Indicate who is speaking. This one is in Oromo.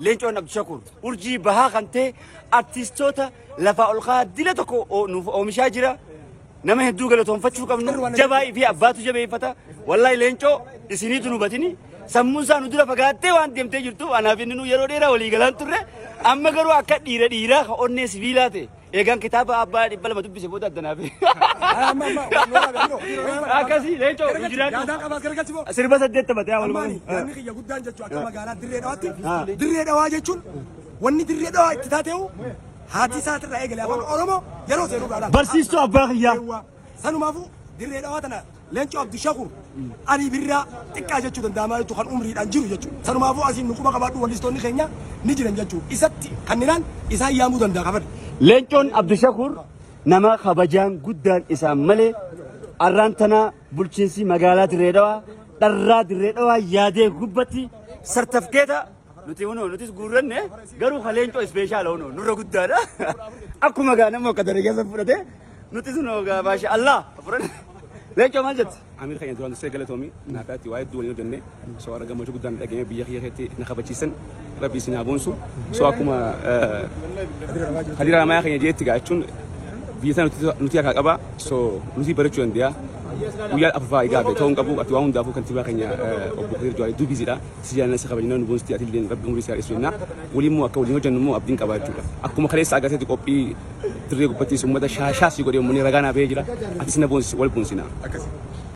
Speaker 1: Leencoon Abdushakuur urjii bahaa kan ta'e artistoota lafaa ol ka'aa dila tokko o- nuuf oomishaa jira. Nama hedduu galatoomfachuu qabnu jabaa fi abbaatu jabeeffata. Wallahi leencoo isiniitu nu batini. Sammuun isaa nu dura fagaattee waan deemtee jirtu anaaf inni nu yeroo dheeraa walii galaan turre. Amma garuu akka dhiira dhiiraa ka onnee sibiilaa ta'e. Eegaan kitaaba abbaa dhibba lama dubbise booda adda naaf. Amma amma walloota biroo. Akkasii leencoo nu jiraadhu. Yaadaan qabaa gargachi boo. Sirba saddeet taphate haa walumaa. Ammaani yaadni kiyya guddaan jechuun
Speaker 2: akka magaalaa dirree dhawaatti dirree dhawaa jechuun wanni dirree dhawaa itti taateehu haati isaatirraa eegale afaan Oromoo yeroo seenu gaadha. Barsiistuu abbaa kiyyaa.
Speaker 1: Sanumaafuu
Speaker 2: dirree dhawaa tana Leencoo Abdushakur, Alii Birraa xiqqaa jechuu danda'a maal jechuu kan umriidhaan jiru jechuudha. Sanumaafuu asiin nu quba qabaadhu wallistoonni keenya ni jiran jechuudha. Isatti kanninaan isaan yaamuu danda'a kan fedhe. Leencoon Abdushakur
Speaker 1: nama kabajaan guddaan isaan malee arraan tanaa bulchiinsii magaalaa Dirree Dhawaa dharraa Dirree Dhawaa yaadee gubbatti sartafkeeta Nuti hunoo nutis guurranne garuu ka leencoo ispeeshaala hunoo nurra guddaadha. Akkuma gaa nama akka daree keessa fudhate nutis hunoo gaa baasha Allah fudhanne. Leencoo maal jette? Amir keenya duraan dursee
Speaker 3: galatoomi naaf yaatti waa hedduu waliin hojjenne soo arga gammachuu guddaan dhageenye biyya kiyya keessatti na kabachiisan rabbi isin haa boonsu soo akkuma hadiira ramayaa keenya jeetti gaa jechuun biyya sana nuti- nuti harkaa qaba soo nuti barachuu dandeenya guyyaa afurfaa egaa beekoo hin qabu ati waan hundaafuu kantiibaa keenya eh, obbo Kadir Jawaar hedduu biiziidha Si jaalanna si kabajna nu boonsitii atilleen rabbi umurii si haa dheessu jenna. Waliin immoo akka waliin hojjannu immoo abdiin qabaa jechuudha. Akkuma kaleessa agartetti qophii dirree gubbattis uummata shaashaa si godhee uummanni ragaa naa bahee jira. Atis na boonsisi wal boonsina.